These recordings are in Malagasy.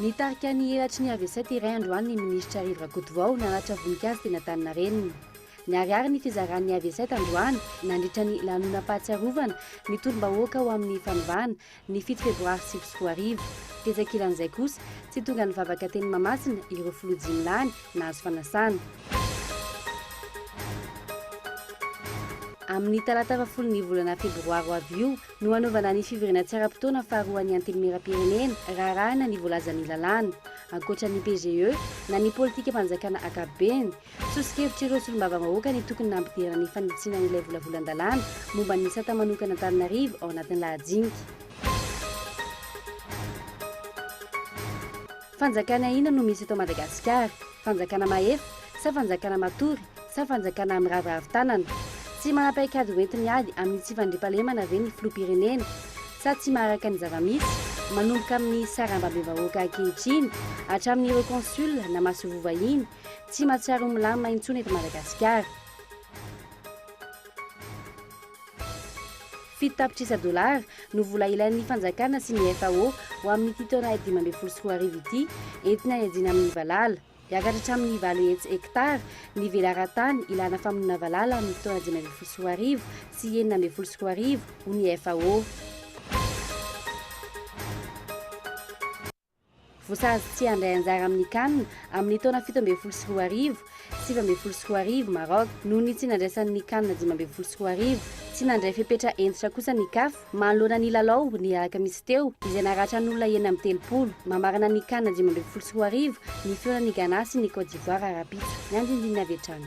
Nitarika ny elatry ny AVC iray androany ny minisitra Rivo Rakotovao nanatitra voninkazo teny Antaninarenina. Niharihary ny fizaran'ny AVC androany nandritra ny lanonam-pahatsiarovana ny tolom-bahoaka ho amin'ny fanovana, ny fito febroary sivy sy roa arivo. Tetsy ankilan'izay kosa, tsy tonga nivavaka teny Mahamasina ireo filoha Jimilany nahazo fanasana. Amin'ny talata fahafolon'ny volana febroary ho avy io no hanaovana ny fivoriana tsy ara-potoana faharoan'ny Antenimierampirenena, raharahana ny voalazan'ny lalàna. Ankoatra ny PGE, na ny politikam-panjakana ankapobeny, soso-kevitr'ireo solombavambahoaka ny tokony nampidirana ny fanitsiana ilay volavolan-dalàna momba ny sata manokana Antananarivo ao anatin'ny lahajinika. Fanjakana inona no misy eto Madagasikara? Fanjakana mahefa sa fanjakana matory sa fanjakana miraviravy tanana? Tsy manam-paikady ho enti miady amin'ny tsy fandriampahalemana ve ny filoham-pirenena? Sa tsy maharaka ny zava-misy? Manomboka amin'ny sarambambevahoaka ankehitriny hatramin'ireo consul na masoivoho vahiny, tsy mahatsiaro ho milamina intsony eto Madagasikara. Fito tapitrisa dolara no vola ilain'ny fanjakana sy ny FAO ho amin'ity taona dimy ambin'ny folo sy roa arivo ity, entina hiadiana amin'ny valala. Hiakatra hatramin'ny valo hetsy hektara ny velaran-tany ilàna famonoana valala amin'ny taona dimy ambin'ny folo sy roa arivo sy enina ambin'ny folo sy roa arivo, hoy ny FAO. Voasazy tsy handray anjara amin'ny Can amin'ny taona fito ambin'ny folo sy roa arivo, sivy ambin'ny folo sy roa arivo, Maroc, noho ny tsy nandraisany ny Can dimy ambin'ny folo sy roa arivo. Tsy nandray fepetra hentitra kosa ny Caf manoloana ny lalao ny alakamisy teo izay naratra ny olona enina amby telopolo. Mamarana ny Can dimy ambin'ny folo sy roa arivo ny fihaonan'i Ghana sy ny Côte d'Ivoire rahampitso ny andinindininy avy hatrany.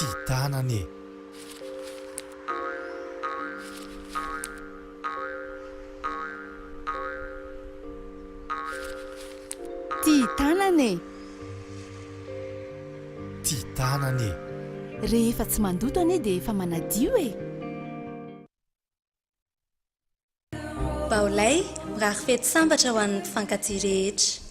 Ty tanana e! Ty tanana e! Ty tanana e! Rehefa tsy mandoto anie dia efa manadio e! Baolay, mirary fety sambatra ho an'ny mpifankatia rehetra.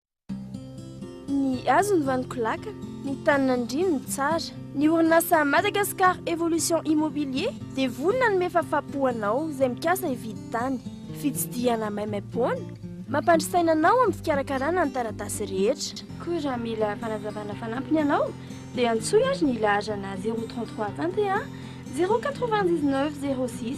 Ny hazo ny vaniko laka, ny tany nandriny ny tsara. Ny orinasa Madagascar Evolution Immobilier dia vonona hanome fafapo ho anao izay mikasa hividy tany. Fitsidihana maimaimpoana, mampandry saina anao amin'ny fikarakarana ny taratasy rehetra. Koa raha mila fanazavana fanampiny ianao dia antsoy ary ny laharana zéro trente trois vingt et un zéro quatre-vingt-dix-neuf zéro six.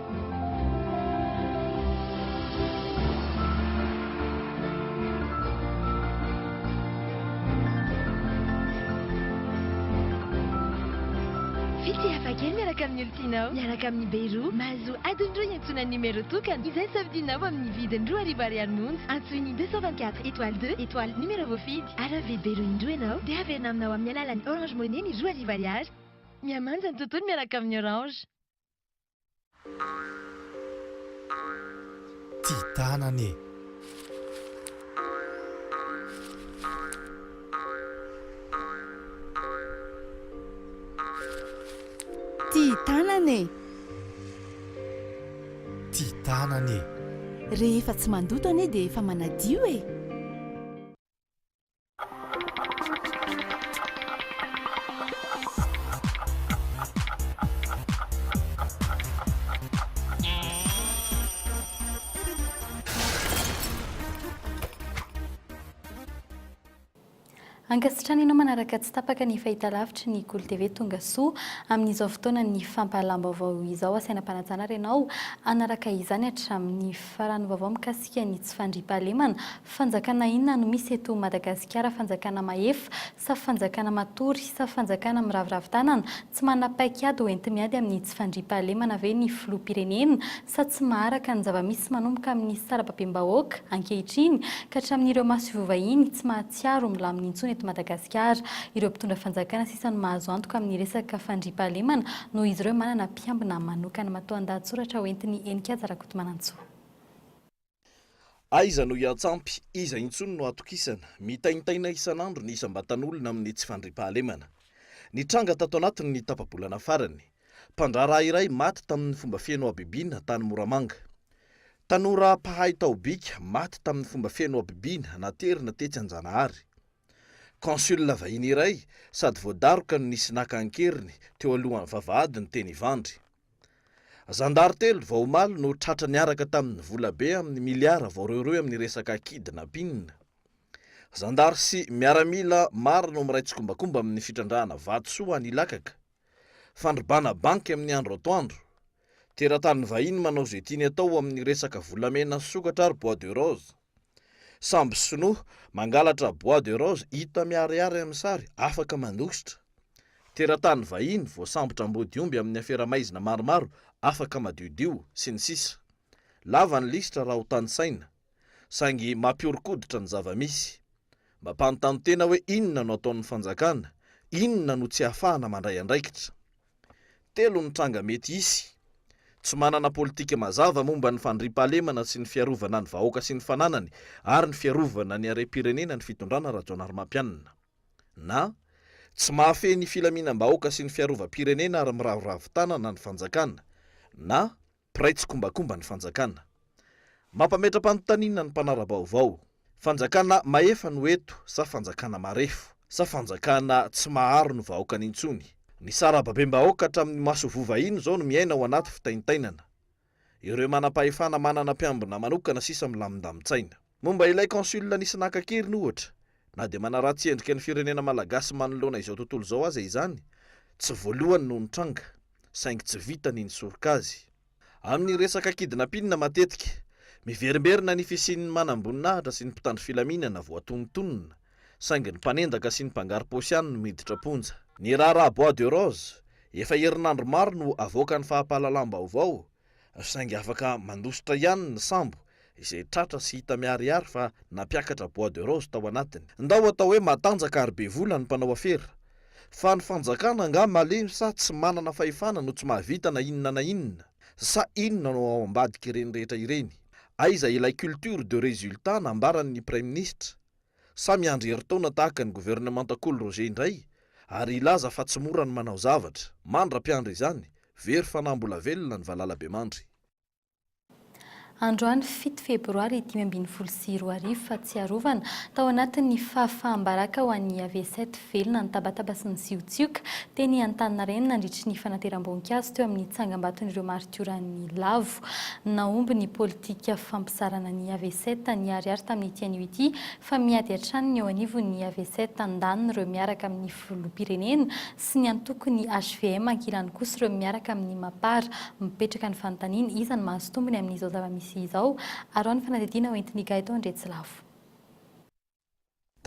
Kely miaraka amin'ny olon-tianao, miaraka amin'ny Beirou, mahazo adiny roa iantsoana ny numéro tokana izay safidinao amin'ny vidiny roa arivo ariary monja. Antso ny 224 étoile 2 étoile numéro voafidy ary raha mividy Beirou indroa ianao dia haverina aminao amin'ny alalan'ny Orange Money ny roa arivo ariary. Mihamanja ny tontolo miaraka amin'ny Orange. Ty tanana e. Ty tanana e. Ty tanana e. Rehefa tsy mandoto anie dia efa manadio e. Ankasitraninao manaraka tsy tapaka ny fahitalavitry ny Kolo TV Tongasoa amin'izao fotoanan'ny fampahalaam-baovao izao. Asaina am-panajanara ianao hanaraka izany hatramin'ny farany. Vaovao mikasika ny tsy fandriampahalemana, Fanjakana inona no misy eto Madagasikara, fanjakana mahefa sa fanjakana matory sa fanjakana miraviravy tanana, tsy manana paik'ady ho enti-miady amin'ny tsy fandriampahalemana ve ny filoham-pirenena sa tsy maharaka ny zava-misy manomboka amin'ny sarababem-bahoaka ankehitriny ka hatramin'ireo masoivoho vahiny tsy mahatsiaro ho milamina intsony eto Madagasikara ireo mpitondra fanjakana sisa no mahazo antoka amin'ny resaka fandriampahalemana noho izy ireo manana mpiambina manokana matoandahatsoratra hoentin'i Heninkaja Rakotomanantsoa. Aiza no hiantsampy, iza intsony no hatokisana? Mitaintaina isan'andro ny isam-batan'olona amin'ny tsy fandriampahalemana. Nitranga tato anatin'ny tapa-bolana farany. Mpandraharaha iray maty tamin'ny fomba feno habibiana tany Moramanga. Tanora mpahay taobika maty tamin'ny fomba feno habibiana naterina tetsy Anjanahary. Consul vahiny iray sady voadaroka no nisy naka an-keriny teo alohan'ny vavahadiny teny Ivandry. Zandary telo vao omaly no tratra niaraka tamin'ny volabe amin'ny miliara voarohirohy amin'ny resaka kidnapping. Zandary sy miaramila maro no miray tsikombakomba amin'ny fitrandrahana vatosoa any Ilakaka. Fandrobana banky amin'ny andro atoandro. Teratany vahiny manao izay tiany atao amin'ny resaka volamena sokatra ary bois de rose. Sambo sinoa, mangalatra bois de rose, hita miharihary amin'ny sary, afaka mandositra. Teratany vahiny, voasambotra ambodiomby amin'ny afera maizina maromaro, afaka madiodio, sy ny sisa Lava ny lisitra raha ho tanisaina, saingy mampihoron-koditra ny zava-misy. Mampanontano tena hoe inona no ataon'ny fanjakana, inona no tsy ahafahana mandray andraikitra. Telo ny tranga mety hisy, Tsy manana politika mazava momba ny fandriampahalemana sy ny fiarovana ny vahoaka sy ny fananany ary ny fiarovana ny harem-pirenena ny fitondrana Rajaonarimampianina. Na, Tsy mahafehy ny filaminam-bahoaka sy ny fiarovam-pirenena ary miraviravy tanana ny fanjakana. Na, Mpiray tsikombakomba ny fanjakana. Mampametra-panontaniana ny mpanara-baovao. Fanjakana mahefa no eto sa fanjakana marefo? Sa fanjakana tsy maharo ny vahaokany intsony? Ny sarababem-bahoaka hatramin'ny masoivoho vahiny izao no miaina ao anaty fitaintainana. Ireo manam-pahefana manana mpiambina manokana sisa milamindamin-tsaina. Momba ilay consul nisy naka an-keriny ohatra, na dia manaratsy endrika ny firenena malagasy manoloana izao tontolo izao aza izany, tsy voalohany no nitranga, saingy tsy vita ny nisoroka azy. Amin'ny resaka kidnapina matetika, miverimberina ny fisian'ny manam-boninahitra sy ny mpitandro filaminana voatonontonona, saingy ny mpanendaka sy ny mpangaro-paosy ihany no miditra am-ponja. Ny raharaha Bois de Rose, efa herinandro maro no avoaka ny fampahalalam-baovao, saingy afaka mandositra ihany ny sambo izay tratra sy hita miharihary fa nampiakatra bois de rose tao anatiny. Ndao atao hoe matanjaka ary be vola ny mpanao afera. Fa ny fanjakana angaha malemy sa tsy manana fahefana no tsy mahavita na inona na inona? Sa inona no ao ambadik'ireny rehetra ireny? Aiza ilay culture de résultat nambaran'ny praiminisitra? Sa miandry herintaona tahaka ny governemanta Kolo Roger indray ary hilaza fa tsy mora ny manao zavatra? Mandra-piandry izany, very fanahy mbola velona ny valalabemandry. Androany fito febroary dimy ambin'ny folo sy roa arivo, fahatsiarovana, tao anatin'ny fahafaham-baraka ho an'i Yaveh Sept velona nitabataba sy nisiotsioka teny Antaninarenina nandritry ny fanateram-boninkazo teo amin'ny tsangambaton'ireo maritioran'i Lavo. Nahomby ny politika fifampizarana ny Avset niharihary tamin'ity anio ity fa miady hatrany ny eo anivon'ny Avset andaniny ireo miaraka amin'ny filoham-pirenena sy ny antokony hvm ankilany kosa ireo miaraka amin'ny Mapar. Mipetraka ny fanontaniana, iza no mahazo tombony amin'izao zava-misy izao? Araho ny fanadihadiana hoentin'i Gaëtan Andriatsilavo.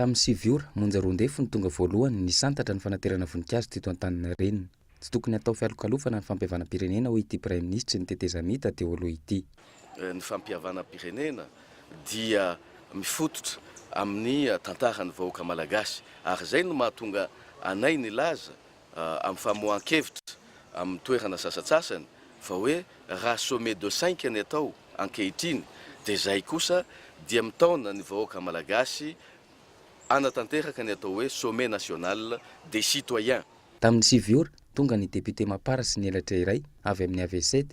Tamin'ny sivy ora monja roa andefy no tonga voalohany ny santatra ny fanaterana voninkazo teto Antaninarenina. Tsy tokony hatao fialokalofana ny fampihavanam-pirenena hoy ity Praiminisitry ny tetezamita teo aloha ity. Ny fampihavanam-pirenena dia mifototra amin'ny tantaran'ny vahoaka malagasy ary izay no mahatonga anay nilaza amin'ny famoahan-kevitra amin'ny toerana sasantsasany fa hoe raha sommet de cinq ny atao ankehitriny dia izay kosa dia mitaona ny vahoaka malagasy hanatanteraka ny atao hoe sommet national des citoyens. Tamin'ny sivy ora, tonga ny député Mapar sy ny elatra iray avy amin'ny Avesset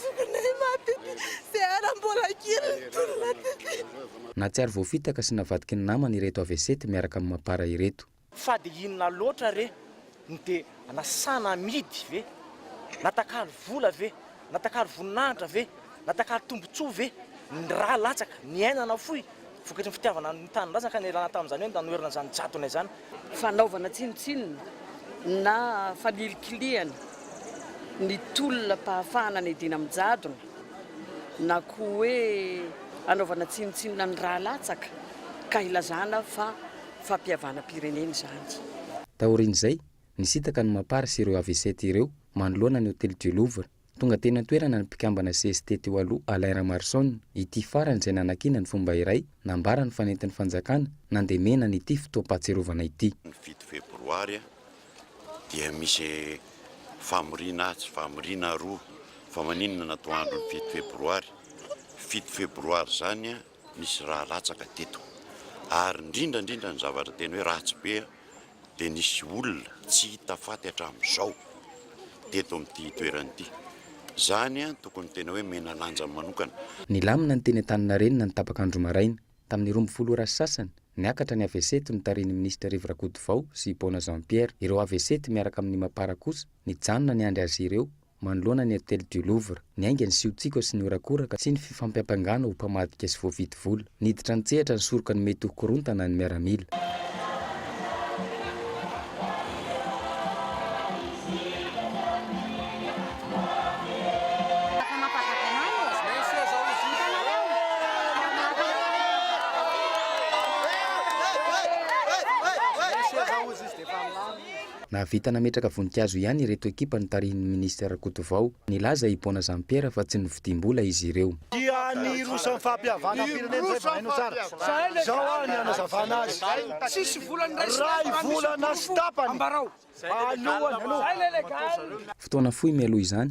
Zokinay maty dia ary mbola kely ny tolona. Nahatsiaro voafitaka sy navadiky ny namany ireto Avesety miaraka amin'ny Mapara ireto. Fa dia inona loatra re no dia anasana amidy ve? Natakalo vola ve? Natakalo voninahitra ve? Natakalo tombotsoa ve? Ny ra latsaka, ny aina nafoy? Vokatry ny fitiavana ny tanindrazana ka nialana tamin'izany hoe nanoherana izany jadona izany. Fanaovana tsinontsinona na fanilikilihana ny tolona mpahafahana ny diana amin'ny jadona na koa hoe anaovana tsinontsinona ny ra latsaka ka ilazana fa fampihavanam-pirenena izany. Taorian'izay, nisintaka ny Mapar sy ireo Avesety ireo manoloana ny Hotely du Louvre. Tonga teny an-toerana ny mpikambana cst teo aloha Alain Ramarison, ity farany izay nanakiana ny fomba iray nambarany fa nentin'ny fanjakana nandemena an'ity fotoam-pahatsiarovana ity. Ny fito febroary dia misy famoriana atsy, famoriana aroa, fa maninona no atao andron'ny fito febroary? Fito febroary izany Nisy raha latsaka teto ary indrindra indrindra ny zavatra tena hoe ratsy be dia nisy olona tsy hita faty hatramin'izao teto amin'ity toerana ity. Izany tokony tena hoe menalanja manokana. Nilamina ny teny Antaninarenina ny tapaka andro maraina. Tamin'ny roa ambin'ny folo ora sy sasany, niakatra ny Havesety notarihin'ny minisitra Rivo Rakotovao sy Ipaona Jean Pierre. Ireo Havesety miaraka amin'ny Mapar kosa nijanona niandry azy ireo Manoloana ny Hôtel du Louvre, niainga ny siotsiko sy ny horakoraka sy ny fifampiampangana ho mpamadika sy voavidy vola. Niditra an-tsehatra nisoroka ny mety ho korontana ny miaramila. Nahavita nametraka voninkazo ihany ireto ekipa notarihin'ny minisitra Rakotovao. Nilaza i Bôna Jean Pierre fa tsy novidiam-bola izy ireo. Dia niroso amin'ny fahapihavanam-pirenena izay vao hainao tsara. Izao aho ny hanazavana azy. Iray volana sy tapany alohan'ny. Fotoana fohy mialoha izany,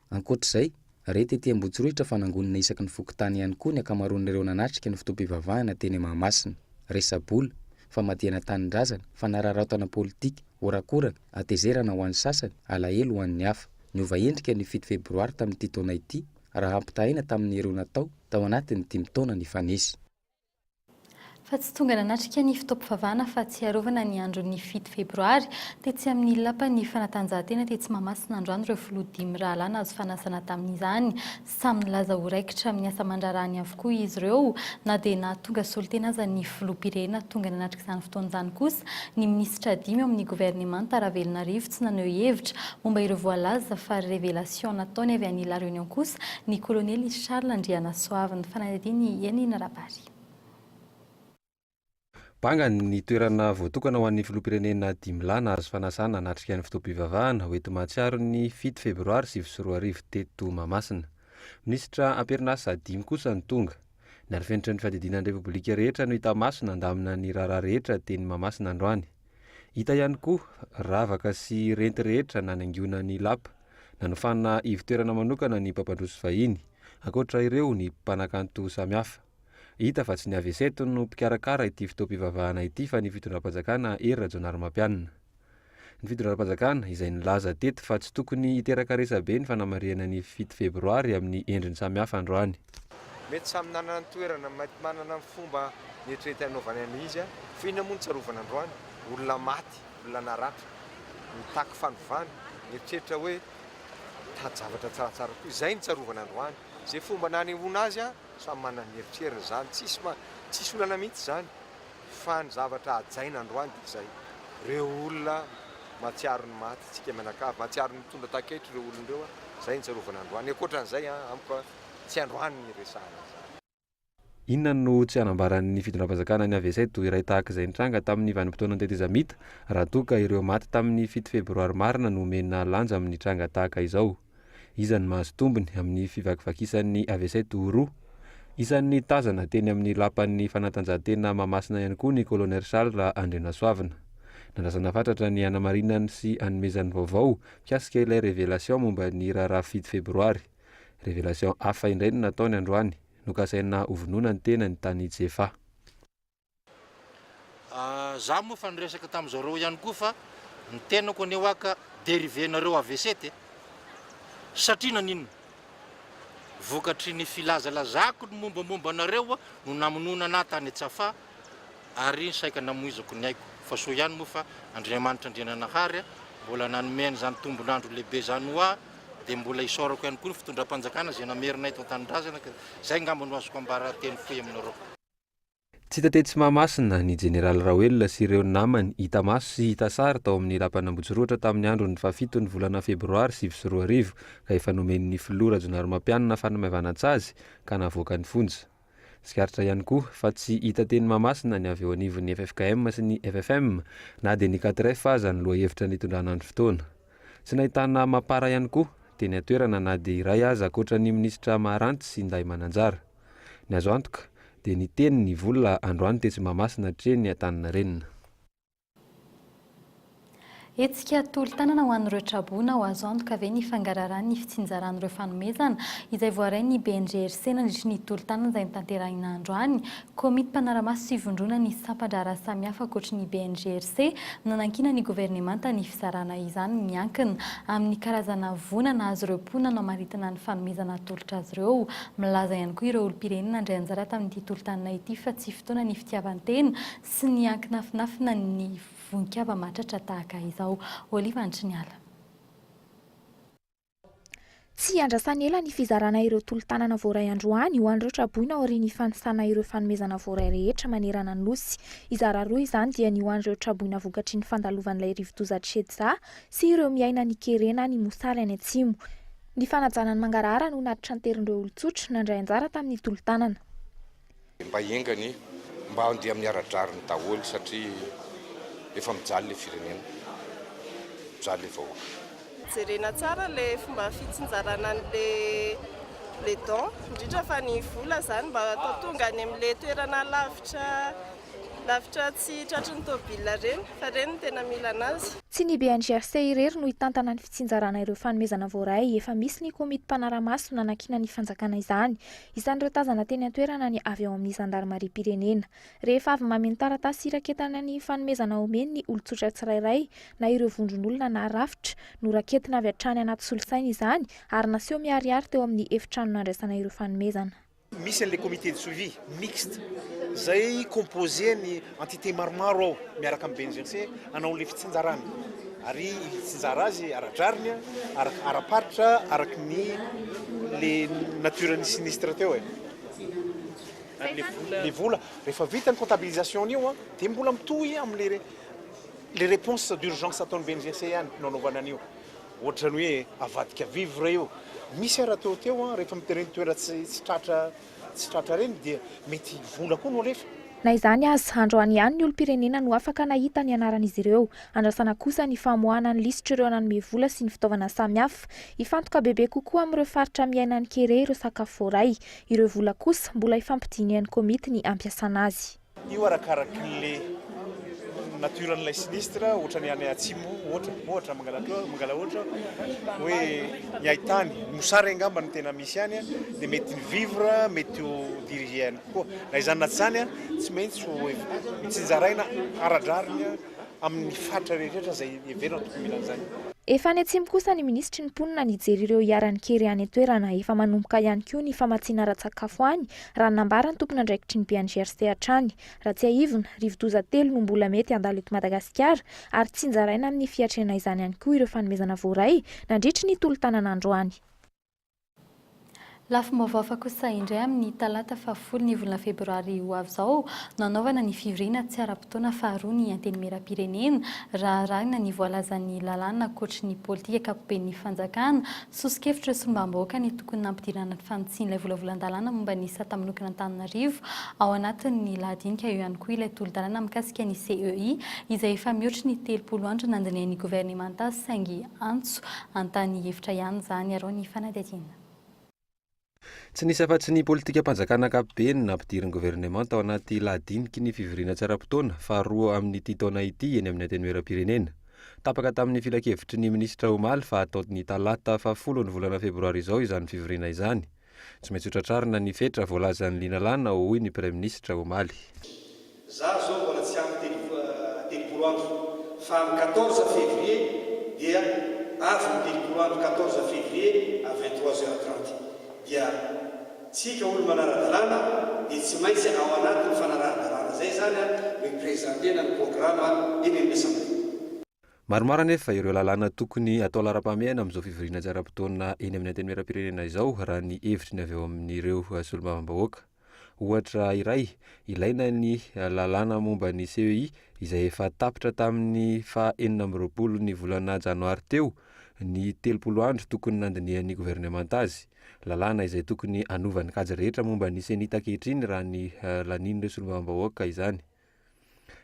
Ankoatra izay, re tety Ambohitsorohitra fa nangonina isaky ny fokontany ihany koa ny ankamaroan'ireo nanatrika ny fotoam-pivavahana teny Mahamasina. Resa-bola, famadihana tanindrazana, fanararaotana politika, horakoraka, hatezerana ho an'ny sasany, alahelo ho an'ny hafa. Niova endrika ny fito febroary tamin'ity taona ity raha ampitahaina tamin'ny ireo natao tao anatin'ny dimy taona nifanesy. fa tsy tonga nanatrika ny fotoam-pivavahana fahatsiarovana ny andron'ny fito febroary tetsy amin'ny lapan'ny fanatanjahantena tetsy Mahamasina androany ireo filoha dimy mirahalahy nahazo fanasana tamin'izany. Samy nilaza ho raikitra amin'ny asa aman-draharahany avokoa izy ireo na dia nahatonga solontena aza ny filoham-pirenena tonga nanatrika izany fotoana izany kosa ny minisitra dimy ao amin'ny governemanta Ravelonarivo tsy naneho hevitra momba ireo voalaza fa révélation nataony avy any La Réunion kosa ny kolonely Charles Andrianasoava. Ny fanadihadian'i Henin Rabary. Banga ny toerana voatokana ho an'ny filoham-pirenena dimy lahy nahazo fanasana hanatrika ny fotoam-pivavahana ho ety Mahatsiaro ny fito febroary sivy sy roa arivo teto Mahamasina. Minisitra am-perinasa dimy kosa no tonga. Ny arifenitra ny fadidiana ny Repoblika rehetra no hita maso nandamina ny raharaha rehetra teny Mahamasina androany. Hita ihany koa ravaka sy renty rehetra nanaingoana ny lapa, nanofana ivo-toerana manokana ny mpampandroso vahiny, ankoatra ireo ny mpanakanto samihafa. Hita fa tsy ny avy eseto no mpikarakara ity fotoam-pivavahana ity fa ny fitondram-panjakana Hery Rajaonarimampianina. ny fitondram-panjakana izay nilaza teto fa tsy tokony hiteraka resabe ny fanamarihana ny fito febroary amin'ny endriny samihafa androany. Mety samy nanana ny toerana, mety manana ny fomba mieritrereta hanaovany an'izy an. Fa inona moa no tsarovana androany? Olona maty, olona naratra, mitaky fandovana, mieritreritra hoe hitady zavatra tsaratsara kokoa. Izay no tsarovana androany. Izay fomba nanehoana azy an, samy manana ny eritreriny izany. Tsisy olana mihitsy izany. Fa ny zavatra hajaina androany dia izay, ireo olona mahatsiaro ny maty, tsika mianakavy, mahatsiaro ny mitondra takaitra ireo olona ireo, izay no tsarovana androany. Ankoatra an'izay, amiko, tsy androany ny iresahana izany. Inona no tsy hanambaran'ny fitondram-panjakana ny avc do iray tahaka izay nitranga tamin'ny vanim-potoanan'ny tetezamita, raha toa ka ireo maty tamin'ny fito febroary marina no omena lanja amin'ny tranga tahaka izao? Iza no mahazo tombony amin'ny fivakivakisan'ny AVC toa roa? Isan'ny tazana teny amin'ny lapan'ny fanatanjahantena Mahamasina ihany koa ny Colonel Charles Andrianasoavina. Nandrasana fatratra ny hanamarinany sy hanomezany vaovao mikasika ilay révélation momba ny raharaha fito febroary. Révélation hafa indray no nataony androany, nokasaina hovonoina ny tenany tany Jefa. Za moa efa niresaka tamin'izao reo ihany koa fa ny tenako anie hoa ka dérivé nareo avc ty satria naninona? Vokatry ny filazalazako ny mombamomba anareo hoa no namonoana anah tany Tsafa ary saika namoizako ny aiko fa soa ihany moa fa Andriamanitra Andriananahary mbola nanome an'izany tombon'andro lehibe zany hoa dia mbola isaorako ihany koa ny fitondram-panjakana izay namerina eto an-tanindrazana ka zay angamba no azoko ambara teny fohy aminareo. Tsy hita tetsy Mahamasina ny Jeneraly Raoelina sy ireo namany hita maso sy hita sary tao amin'ny lapan'Ambohijorohatra tamin'ny andron'ny fahafiton'ny volana febroary sivy sy roa arivo ka efa nomen'ny Filoha Rajaonarimampianina fanamaivanan-tsazy ka navoakan'ny fonja. Tsikaritra ihany koa fa tsy hita teny Mahamasina ny avy eo anivon'ny ffkm sy ny ffm na dia ny Catref aza ny lohahevitra nitondrana androm-potoana. Tsy nahitana Mapar ihany koa teny an-toerana na dia iray aza ankoatra ny Minisitra Maharanty sy Ndahimananjara. Ny azo antoka dia niteny ny vola androany tetsy Mahamasina hatreny Antaninarenina. Hetsika tolo-tanana ho an'ireo traboina ho azo antoka ve ny fangararan'ny fitsinjaran'ireo fanomezana izay voarain'ny BNGRC nandritry ny tolo-tanana izay notanterahina androany? Komity mpanara-maso sy ivondronan'ny sampan-draharaha samihafa ankoatry ny BNGRC no nankiana ny governemanta ny fizarana izany miankina amin'ny karazana voina nahazo ireo mponina namaritina ny fanomezana atolotra azy ireo Milaza ihany koa ireo olom-pirenena nandray anjara tamin'ity tolo-tanana ity fa tsy fotoana ny fitiavan-tena sy ny hankinafinafina ny voin-kava mahatratra tahaka izao. Olive Andriniala. Tsy hiandrasana ela ny fizarana ireo tolo-tanana voaray androany ho an'ireo traboina aorian'ny hifanisana ireo fanomezana voaray rehetra manerana ny Nosy. Hizara roa izany dia ny ho an'ireo traboina vokatry ny fandalovan'ilay rivodoza Cedsa sy ireo miaina ny kerena any Mosary any atsimo. Ny fanajana ny mangarahara no natitranterin-dreo olon-tsotra nandray anjara tamin'ny tolo-tanana. Mba enga anie mba andeha amin'ny ara-drariny daholo satria efa mijaly ilay firenena, mijaly ilay vahoaka. Jerena tsara le fomba fitsinjarana ny le le don indrindra fa ny vola zany mba atao tonga any amle toerana lavitra. Lavitra tsy tratry ny tôbila reny, fa reny no tena mila anazy. Tsy ny BNGRC irery no hitantana ny fitsinjarana ireo fanomezana voaray, efa misy ny komity mpanara-maso nanakiana ny fanjakana izany. Isan'ireo tazana teny an-toerana ny avy ao amin'ny zandarimariam-pirenena. Rehefa avy mameno taratasy iraketana ny fanomezana omeny ny olon-tsotra tsirairay na ireo vondron'olona na rafitra, noraketina avy hatrany anaty solosaina izany ary naseho miharihary teo amin'ny efitranon'andraisana ireo fanomezana. Misy an'ilay comité de suivi mixte izay composé-n'ny entités maromaro ao miaraka amin'ny BNGC hanao an'ilay fitsinjarana ary hitsinjara azy ara-drariny, ara-paritra araka ny ilay nature-n'ny sinistre teo e. Ilay vola, rehefa vita ny comptabilisation-n'io dia mbola mitohy amin'ilay ilay réponse d'urgence ataon'ny BNGC ihany no hanaovana an'io. Ohatrany hoe avadika vivre io. Misy ara teo ho teo an, rehefa mety ireny toera tsy tsy tratra tsy tratra ireny dia mety vola koa no alefa. Na izany aza, andro any ihany ny olom-pirenena no afaka nahita ny anaran'izy ireo. Andrasana kosa ny famoahana ny lisitr'ireo nanome vola sy ny fitaovana samihafa. Hifantoka bebe kokoa amin'ireo faritra miainan'ny kere ireo sakafo voaray. Ireo vola kosa, mbola hifampidinihan'ny komity ny hampiasana azy. Io arakarakin'le nature an'ilay sinistre, ohatra ny any atsimo, ohatra, ohatra, mangalatra, mangala ohatra, hoe ny haitany, mosary angamba no tena misy any, dia mety ny vivre mety ho dirigé ihany koa. Na izany na tsy izany, tsy maintsy ho tsinjaraina ara-drariny amin'ny faritra rehetra izay heverina tokony mila an'izany. Efa any atsimo kosa ny minisitry ny mponina nijery ireo iharan'ny kere any an-toerana. Efa manomboka ihany koa ny famatsiana ara-tsakafo any raha ny nambaran'ny tompon'andraikitry ny BNGRC hatrany. Raha tsiahivina, rivodoza telo no mbola mety handalo eto Madagasikara ary tsinjaraina amin'ny fiatrehana izany ihany koa ireo fanomezana voaray nandritry ny tolo-tanana androany. Lafim-baovao hafa kosa indray amin'ny talata fahafolo ny volana febroary ho avy izao no hanaovana ny fivoriana tsy ara-potoana faharoa ny Antenimierampirenena raha arahina ny voalazan'ny lalàna ankoatry ny politika ankapoben'ny fanjakana Soso-kevitra sy ombam-bahoaka ny tokony nampidirana ny fanitsian'ilay volavolan-dalàna momba ny sata manokana Antananarivo. Ao anatin'ny lahadinika io ihany koa ilay tolo-dalàna mikasika ny CEI izay efa mihoatry ny telopolo andro nandinihan'ny governemanta saingy antso an-tany efitra ihany izany, arao ny fanadihadiana. Tsy nisy afa-tsy ny politikam-panjakana ankapobeny no nampidirin'ny governemanta ao anaty lahadiniky ny fivoriana tsy ara-potoana faharoa amin'ity taona ity eny amin'ny Antenimieram-pirenena. Tapaka tamin'ny filankevitry ny minisitra omaly fa hatao ny talata fahafolo ny volana febroary izao izany fivoriana izany. Tsy maintsy hotratrarina ny fetra voalazan'ny Linalana, hoy ny praiminisitra omaly. Za zao mbola tsy ampy telo telopolo andro fa am quatorze fevrier dia avy ny telopolo andro quatorze fevrier à vingt trois heures trente dia tsika olo manara-dalàna dia tsy maintsy ao anatin'ny fanaraha-dalàna zay zany an no hi-presenter-na ny programme eny amin'ny assemblée. Maromaro anefa ireo lalàna tokony atao laharam-pahamehana amin'izao fivoriana tsy ara-potoana eny amin'ny Antenimierampirenena izao, raha ny hevitry ny avy ao amin'ireo solombavambahoaka. Ohatra iray, ilaina ny lalàna momba ny CEI izay efa tapitra tamin'ny faha enina amby roapolo ny volana janoary teo, ny telopolo andro tokony nandinihan'ny governemanta azy. Lalàna izay tokony hanova ny kajy rehetra momba ny Ceni-t ankehitriny raha ny lanian'ireo solombavambahoaka izany.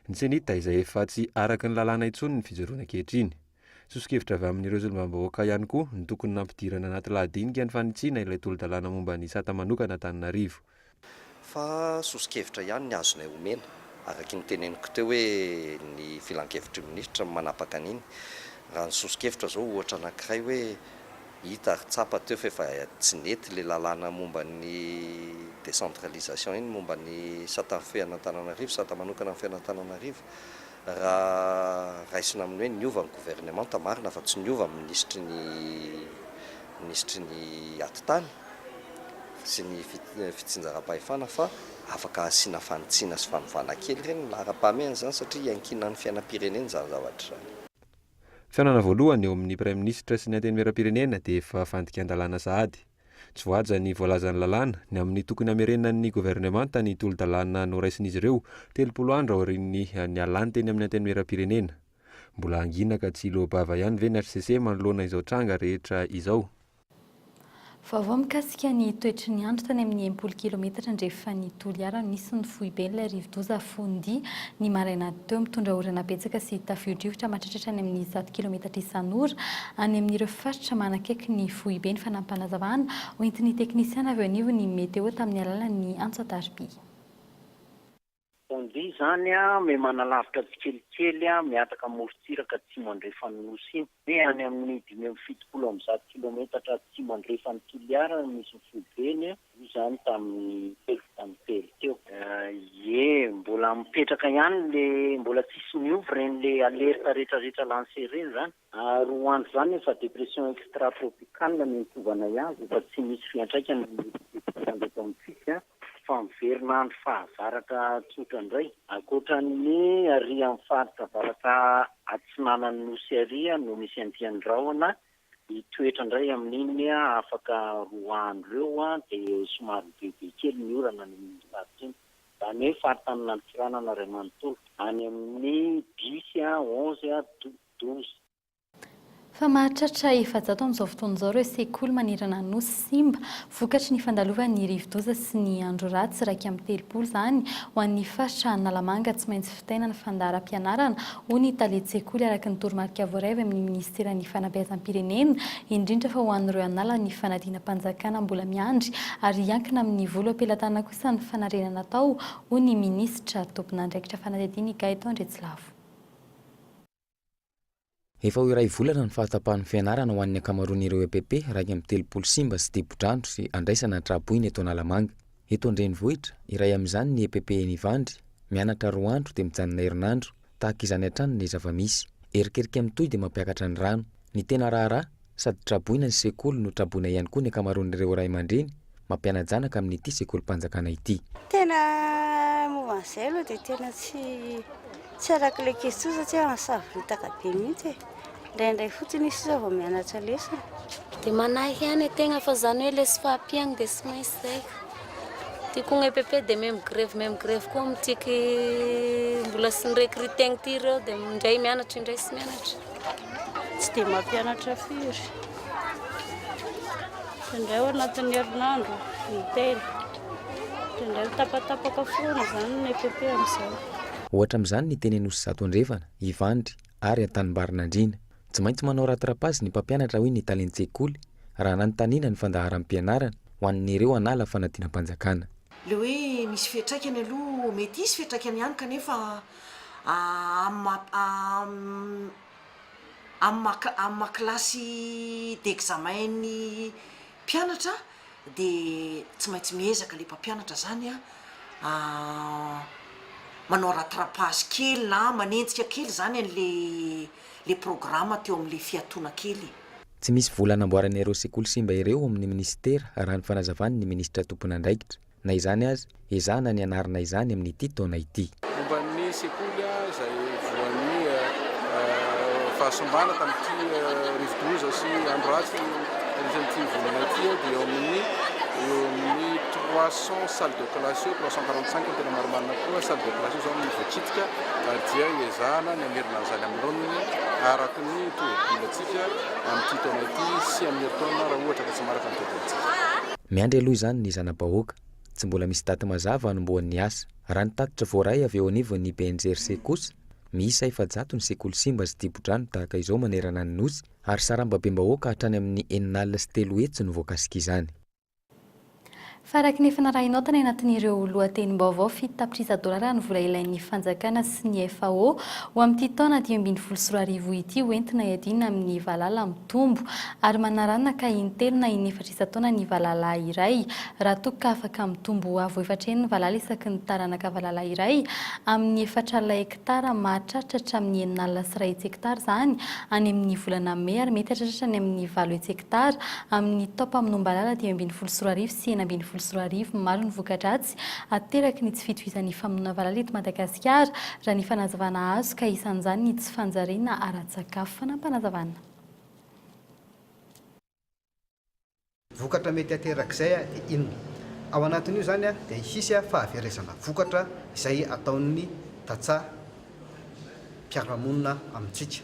ny Cenit izay efa tsy araka ny lalàna intsony ny fijoroany ankehitriny. Soso-kevitra avy amin'ireo solombavambahoaka ihany koa ny tokony nampidirana anaty lahadinika ny fanitsiana ilay tolo-dalàna momba ny sata manokana Antananarivo. Fa soso-kevitra ihany ny azonay omena, araka iny teneniko teo hoe ny filankevitry ny minisitra no manapaka an'iny. Raha ny soso-kevitra izao ohatra anankiray hoe Hita ary tsapa teo fa efa tsy nety ilay lalàna momba ny décentralisation iny momba ny sata ny feon'Antananarivo, sata manokana ny feon'Antananarivo. Raha raisina amin'ny hoe niova ny governemanta, marina fa tsy niova ny minisitry ny minisitry ny atitany sy ny fitsinjaram-pahefana fa afaka asiana fanitsiana sy fanovana kely ireny. Laharam-pahamehana izany satria iankinan'ny fiainam-pirenena izany zavatra izany. Fihaonana voalohany eo amin'ny Praiminisitra sy ny Antenimierampirenena dia efa fandikan-dalàna sahady. Tsy voahaja ny voalazan'ny lalàna, ny amin'ny tokony hamerenan'ny governemanta ny tolo-dalàna noraisin'izy ireo telopolo andro aorian'ny nialany teny amin'ny Antenimierampirenena. Mbola hangina ka tsy hiloa-bava ihany ve ny hcc manoloana izao tranga rehetra izao? Vaovao mikasika ny toetry ny andro tany amin'ny enimpolo kilometatra andrefan'i Toliara misy ny foiben'ilay rivodoza Fondi ny maraina teo, mitondra orana betsaka sy tafio-drivotra mahatratra any amin'ny zato kilometatra isan'ora any amin'ireo faritra manakaiky ny foibe ny fanampim-panazavana hoentin'ny teknisiana avy ao anivon'ny Meteo tamin'ny alalan'ny antso an-tarobia. Bondy izany me manalavitra tsikelikely mihataka amorontsiraka atsimo andrefan'ny Nosy iny. Dia any amin'ny dimy amby fitopolo amby zato kilometatra atsimo andrefan'i Toliara no misy ny foibeny. Hoy izany tamin'ny telo tamin'ny telo teo. Ie, mbola mipetraka ihany le, mbola tsisy miova ireny le alerte retraretra lancer ireny izany. Ary ho andry izany efa dépression extra tropicale no hitovana iazy efa tsy misy fiantraikany ny fidirana eto amintsika fa miverina andro fahavaratra tsotra indray. Ankoatran'ny arian'ny faritra avaratra atsinanan'ny nosy aria no misy andiany rahona hitoetra indray amin'iny afaka roa andro eo dia somary bebe kely ny orana any amin'iny faritra iny izany hoe faritanin'Antsiranana iray manontolo any amin'ny dix, onze, douze. douze. Fa mahatratra efajato amin'izao fotoana izao ireo sekoly manerana ny Nosy simba vokatry ny fandalovan'ny rivodoza sy ny andro ratsy, iraika amby telopolo izany ho an'ny faritra Analamanga tsy maintsy vitaina ny fandaharam-pianarana hoy ny talen-tsekoly araka ny toromarika voaray avy amin'ny minisiteran'ny fanabeazam-pirenena indrindra fa ho an'ireo an'ala ny fanadinam-panjakana mbola miandry ary hiankina amin'ny vola am-pelatanana kosa ny fanarenana atao hoy ny minisitra tompon'andraikitra fanadihadiana i Gaëtan Andriatsilavo. Efa ho iray volana ny fahatapahan'ny fianarana ho an'ny ankamaroan'ireo epp iraika amby telopolo simba sy dibo-drano sy andraisana tra-boina eto Analamanga. Eto an-drenivohitra, iray amin'izany ny epp eny Ivandry. Mianatra roa andro dia mijanona herinandro. Tahaka izany hatrany ilay zava-misy. Erikerika mitohy dia mampiakatra ny rano. Ny tena raharaha? Sady traboina ny sekoly no traboina ihany koa ny ankamaroan'ireo ray aman-dreny mampiana-janaka amin'ity sekolim-panjakana ity. Tena momba an'izay aloha dia tena tsy tsy araka ilay question satria misavorotaka be mihitsy e. Indraindray fotsiny izy sisa vao mianatra lesona. Dia manahy ihany e tegna fa zany hoe lesy fahampiany dia tsy maintsy zay. Ty koa ny EPP dia memo grevy memo grevy koa mitriky mbola sy ny recruter-ny ty ireo dia indray mianatra indray tsy mianatra. Tsy dia mampianatra firy. Indraindray ao anatin'ny herinandro, intelo. Indraindray mitapatapaka foana izany ny EPP amin'izao. Ohatra amin'izany ny teny Anosizato Andrefana, Ivandry ary Antanimbarinandriana. Tsy maintsy manao rattrapage ny mpampianatra hoy ny Talen-tsekoly raha nanontaniana ny fandaharam-pianarana ho an'ireo hanala fanadinam-panjakana. Ilay hoe misy fiantraikany aloha mety hisy fiantraikany ihany kanefa amin'ny maha kilasy d'examen ny mpianatra dia tsy maintsy miezaka ilay mpampianatra izany manao rattrapage kely na manenjika kely izany an'ilay programa teo amin'ilay fiatoana kely e. Tsy misy vola hanamboarana ireo sekoly simba ireo ao amin'ny minisitera, raha ny fanazavan'ny minisitra tompon'andraikitra. Na izany aza, ezahana ny hanarina izany amin'ity taona ity. Momba ny sekoly izay voan'ny fahasimbana tamin'ity rivodoza sy andro ratsy anisan'ity volana ity dia eo amin'ny eo amin'ny trois cents salles de classe eo, trois cent quarante cinq ny tena marimarina koa, salles de classe eo izao no voakitika dia ezahana ny hamerina an'izany amin'ny laoniny araka ny tobilantsika amin'ity taona ity sy amin'ny herintaona raha ohatra ka tsy manaraka ny tobilantsika. Miandry aloha izany ny zana-bahoaka. Tsy mbola misy daty mazava hanombohany ny asa. Raha ny tatitra voaray avy eo anivon'ny BNGRC kosa, miisa efajato ny sekoly simba sy dibo-drano tahaka izao manerana ny Nosy ary sarambabem-bahoaka hatrany amin'ny enina alina sy telo hetsy no voakasik'izany. Fa araka ny efa narahinao tany anatin'ireo lohatenim-baovao, fito tapitrisa dolara ny vola ilain'ny fanjakana sy ny FAO ho amin'ity taona dimy ambin'ny folo sy roa arivo ity ho entina iadiana amin'ny valala tombo, ary manaranaka in-telo na in-efatra isan-taona ny valala iray, raha toa ka afaka mitombo ho avo efatra heny ny valala isaky ny taranaka valala iray, amin'ny efatra alina hektara, mahatratra hatramin'ny enina alina sy iray hetsektara izany any amin'ny volana mey, ary mety hatratra hatrany amin'ny valo hetsektara, amin'ny top amin'ny ombarara dimy ambin'ny folo sy roa arivo sy enina ambin'ny folo sy roa arivo, maro ny voka-dratsy. Malagasy ateraky ny tsy fitohizan'ny famonoana valala eto Madagasikara, raha ny fanazavana azo, ka isan'izany ny tsy fanjariana ara-tsakafo. Fanampanazavan. Vokatra mety aterak'izay dia inona? Ao anatin'io izany dia hisy fahaverezana vokatra izay ataon'ny tantsaha mpiara-monina amintsika.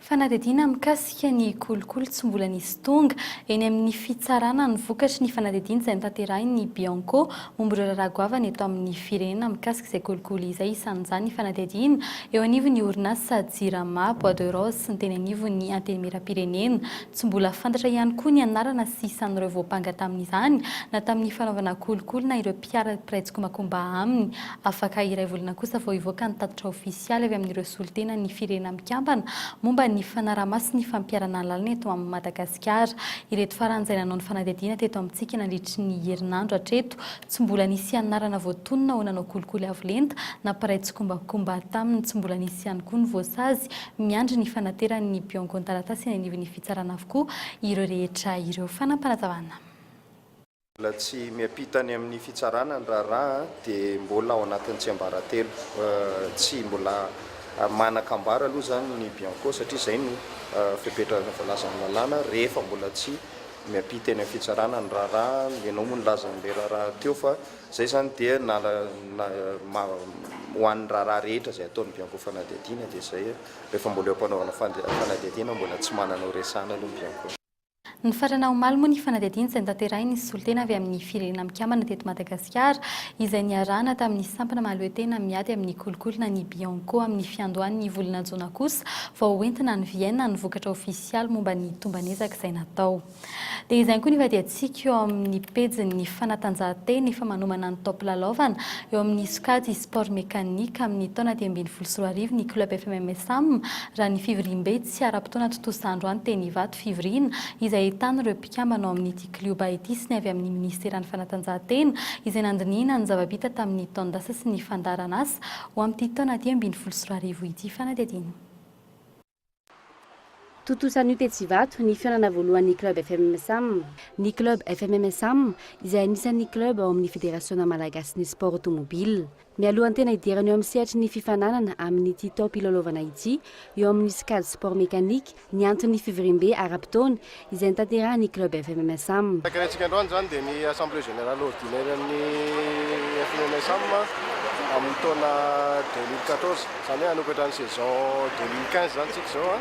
Fanadihadiana mikasika ny kolikoly tsy mbola nisy tonga eny amin'ny fitsarana ny vokatry ny fanadihadiana izay notanterahin'ny Bianco momba ireo raharaha goavana eto amin'ny firenena mikasika izay kolikoly izay, isan'izany ny fanadihadiana eo anivon'ny orinasa Jirama Bois de Rose sy ny teny anivon'ny Antenimierampirenena. Tsy mbola fantatra ihany koa ny anarana sy isan'ireo voampanga tamin'izany na tamin'ny fanaovana kolikoly na ireo mpiara mpiraitsikombakomba aminy. Afaka iray volana kosa vao hivoaka ny tatitra ofisialy avy amin'ireo solontena ny Firenena Mikambana momba ny fanarahamaso sy ny fampiharana lalina eto amin'i Madagasikara. Ireto farany izay nanao ny fanadihadiana teto amintsika nandritry ny herinandro hatreto. Tsy mbola nisy ihany narana voatonona ho nanao kolikoly avo lenta na mpiray tsikombakomba taminy. Tsy mbola nisy ihany koa ny voasazy miandry ny fanateran'ny biongon-taratasy eny anivon'ny fitsarana avokoa ireo rehetra ireo. Fanampanazavanam. Mbola tsy miampita any amin'ny fitsarana ny raharaha dia mbola ao anatin'ny tsiambaratelo. Tsy mbola manan-kambara aloha izany ny Bianco satria izay no fepetra voalazan'ny lalàna rehefa mbola tsy miampita eny amin'ny fitsarana ny raharaha. Ianao moa nilaza an'ilay raharaha teo fa izay izany dia ho an'ny raharaha rehetra izay ataon'ny Bianco fanadihadiana dia izay. Rehefa mbola eo am-panaovana fanadihadiana mbola tsy manana ho resahana aloha ny Bianco. Nifarana omaly moa ny fanadihadiana izay notanterahin'ny solontena avy amin'ny Firenena Mikambana teto Madagasikara izay niarahana tamin'ny sampana mahaleo tena miady amin'ny kolikoly na ny Bianco amin'ny fiandohan'ny volana jona kosa vao hoentina any Vienne ny vokatra ofisialy momba ny tomban'ezaka izay natao dia izay koa ny vadiantsika eo amin'ny pejin'ny fanatanjahantena efa manomana ny taom-pilalaovana eo amin'ny sokajy sport mécanique amin'ny taona dimy ambin'ny folo sy roa arivo ny club FMMSAM raha ny fivoriambe sy ara-potoana tontosa andro any teny Ivato fivoriana izay ahitan'ireo mpikambana ao amin'ity klioba ity sy ny avy amin'ny minisiteran'ny fanatanjahantena izay nandinihina ny zava-bita tamin'ny taon-dasa sy ny fandaharan'asa ho amin'ity taona dimy ambin'ny folo sy roa arivo ity fanadihadiana tontosa anio tetsy Ivato ny fihaonana voalohan'ny club FMMSAM. Ny club FMMSAM izay anisan'ny club ao amin'ny federasiona malagasin'ny sport automobile. Mialohan'ny tena hidirany eo amin'ny sehatry ny fifaninanana amin'ity taom pilalaovana ity eo amin'ny Scad Sport Mécanique ny anton'ny fivoriambe ara-potoana izay notanterahan'ny club FMMSAM. Nankaretsaka androany izany dia ny assemblée générale ordinaire-n'ny FMMSAM amin'ny taona deux mille quatorze, izany hoe hanokatra ny saison deux mille quinze izany isika izao.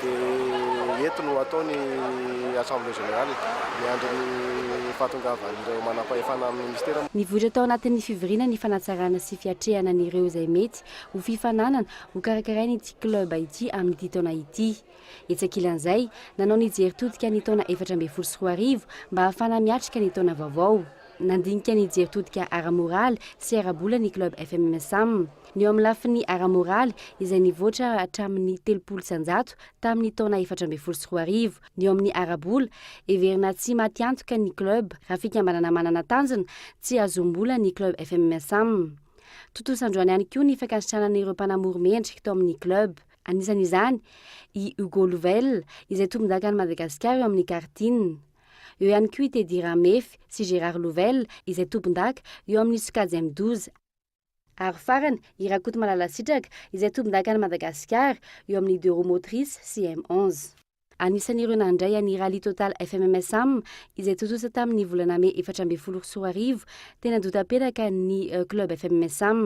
dia eto no hatao ny Assemblée Générale, miandry ny fahatongavan'ireo manampahefana amin'ny Minisitera moa. Nivoitra tao anatin'ny fivoriana ny fanatsarana sy fiatrehana an'ireo izay mety ho fifananana ho karakarain'ity club ity amin'ity taona ity. Etsy ankilan'izay, nanao ny jery todika ny taona efatra ambin'ny folo sy roa arivo mba hahafana miatrika ny taona vaovao. Nandinika ny jery todika ara-moraly sy ara-bola ny club FMMSAM. Ny eo amin'ny lafiny ara-moraly, izay nivoatra hatramin'ny telopolo isan-jato tamin'ny taona efatra ambin'ny folo sy roa arivo. Ny eo amin'ny ara-bola, heverina tsy matiantoka ny club raha fikambanana manana tanjona tsy hahazoam-bola ny club FMMSAM. Tontosa androany ihany koa ny fankasitrahana ireo mpanamory mendrika tao amin'ny club. Anisan'izany i Hugo Louvel izay tompondakan'i Madagasikara eo amin'ny kartina. Eo ihany koa i Teddy Ramefy sy Gérard Louvel izay tompondaka eo amin'ny sokajy M12. Ary farany, i Rakotomalala Sitraka, izay tompondakan'i Madagasikara, eo amin'ny deux roues motrices sy M onze. Anisan'ireo nandray an'i Rallye Total FMMSAM, izay tontosa tamin'ny volana mey efatra ambin'ny folo sy roa arivo, tena doa tanteraka ny Club FMMSAM.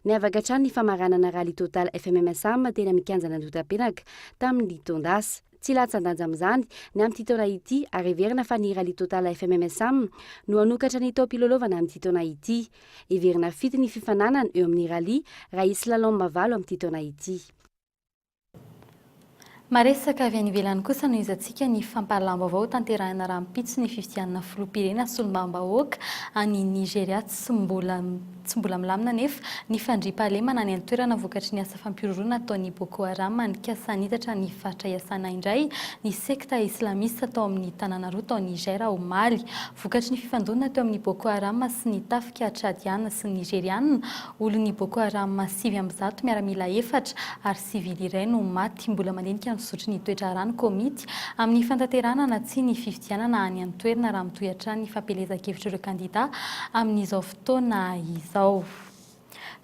Niavaka hatrany ny famaranana Rallye Total FMMSAM teny amin'ny kianjan'Andohatapenaka, tamin'ny taon-dasa. Tsy latsa-danja amin'izany ny amin'ity taona ity ary heverina fa ny Rallye Total FMMSAM no hanokatra ny taom-pilalaovana amin'ity taona ity. Heverina fito ny fifaninanana eo amin'ny rallye raha hisy slalom valo amin'ity taona ity. Maresaka avy any ivelany kosa no izantsika ny fampahalalam-baovao ho tanterahina rahampitso ny fifidianana filoham-pirenena solombavambahoaka any Nigeria tsy mbola Tsy mbola milamina anefa ny fandriampahalemana any an-toerana vokatry ny asa fampihorohoroana ataon'ny Boko Haram nikasa hanitatra ny faritra iasana indray ny sekta islamista tao amin'ny tanàna roa tao Niger omaly. Vokatry ny fifandonana teo amin'ny Boko Haram sy ny tafika Tchadiana sy Nigeriana, olon'ny Boko Haram sivy amby zato, miaramila efatra ary sivily iray no maty. Mbola mandinika ny zotry ny toedraharaha ny komity amin'ny fantanterahana na tsia ny fifidianana any an-toerana raha mitohy hatrany ny fampielezan-kevitr'ireo kandida amin'izao taona izao.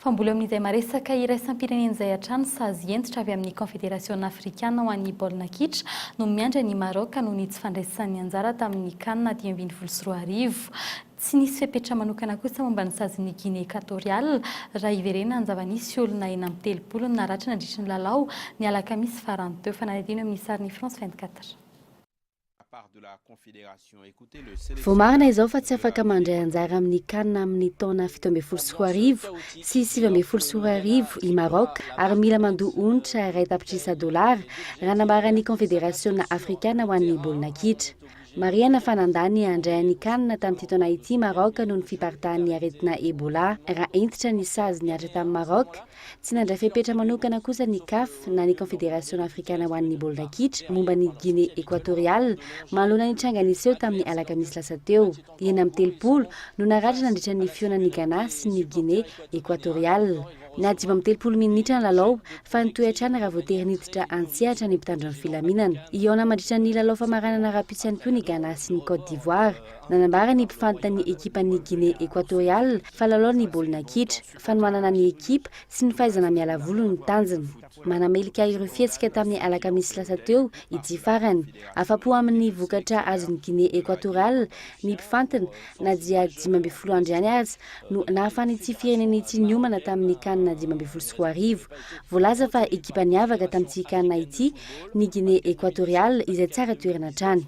Fa mbola eo amin'izay maresaka iraisam-pirenena izay hatrany, sazy hentitra avy amin'ny Kaonfederasiona afrikana ho an'ny baolina kitra no miandry an'i Maroc noho ny tsy fandraisany anjara tamin'ny Can dimy ambin'ny folo sy roa arivo. Tsy nisy fepetra manokana kosa momba ny sazin'i Guinée Equatoriale raha hiverena ny zava-nisy olona enina amby telopolo no naratra nandritry ny lalao ny alakamisy farany teo, fanadihadiana eo amin'ny sarin'ny France vingt-quatre. Voamarina izao fa tsy afaka mandray anjara amin'ny Can amin'ny taona fito ambin'ny folo sy roa arivo sy sivy ambin'ny folo sy roa arivo i Maroc ary mila mandoa onitra iray tapitrisa dolara raha nambaran'ny Konfederasiona Afrikana ho an'ny baolina kitra. Marihana fa nandà ny handray an'i Can tamin'ity taona ity Maroc noho ny fiparitahan'ny aretina Ebola. Raha hentitra ny sazy nihatra tamin'i Maroc, Tsy nandray fepetra manokana kosa ny Caf na ny Kaonfederasiona afrikàna ho an'ny baolina kitra momba ny Guinée Equatoriale manoloana ny tranga niseho tamin'ny alakamisy lasa teo. Enina amby telopolo no naratra nandritra ny fihaonan'ny Ghana sy ny Guinée Equatoriale. Niady dimy amby telopolo minitra ny lalao fa nitohy hatrany raha vao tery niditra an-tsehatra ny mpitandro ny filaminana. Hihaona mandritra ny lalao famaranana rahampitso ihany koa ny Ghana sy ny Côte d'Ivoire. Nanambara ny mpifantina ny ekipan'ny Guinée Equatoriale fa lalao ny baolina kitra. Fanohanana ny ekipa sy ny fahaizana miala voly no tanjona. Manamelika ireo fihetsika tamin'ny alakamisy lasa teo ity farany. Afa-po amin'ny vokatra azon'i Guinée Equatorale ny mpifantina na dia dimy ambin'ny folo andro ihany aza no nahafahan'ity firenena ity niomana tamin'ny Can dimy ambin'ny folo sy roa arivo. Voalaza fa ekipa niavaka tamin'ity Can ity ny Guinée Equatoriale izay tsara toerana hatrany.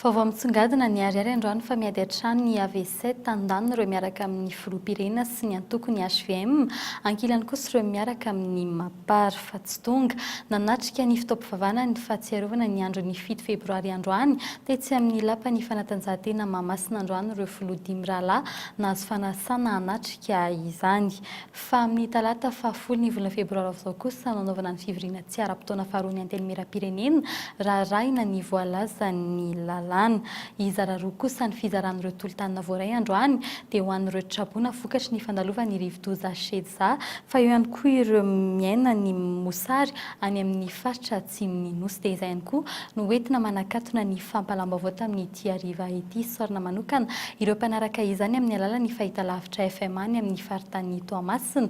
Vaovao misongadina, Niharihary androany fa miady hatrany ny AVC tandany ireo miaraka amin'ny filoham-pirenena sy ny antokony hvm, ankilany kosa ireo miaraka amin'ny Mapar. Fa tsy tonga. Nanatrika ny fotoam-pivavahana ny fahatsiarovana ny andron'ny fito febroary androany tetsy amin'ny lapan'ny fanatanjahantena Mahamasina androany ireo filoha dimy rahalahy nahazo fanasana hanatrika izany. Fa amin'ny talata fahafolo ny volana febroary ao izao kosa no hanaovana ny fivoriana tsy ara-potoana faharoa ny Antenimierampirenena raha arahina ny voalazan'ny lalàna. Hizara roa kosa ny fizaran'ireo tolotanona voaray androany dia ho an'ireo traboina vokatry ny fandalovan'ny rivodoza Shedza fa eo ihany koa ireo miaina ny mosary any amin'ny faritra atsimon'ny Nosy dia izay ihany koa no hoentina manakatona ny fampalam-baovao tamin'ity hariva ity. Hisaorana manokana ireo mpanaraka izany amin'ny alalan'ny fahitalavitra FMA ny amin'ny faritany Toamasina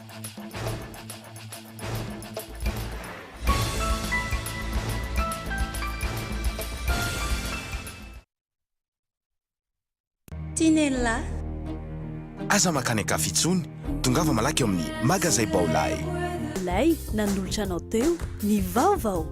Tinella. Aza mankany an-kafa intsony, tongava malaky ao amin'ny Magazay Baolay. Lay nanolotra anao teo ny vaovao.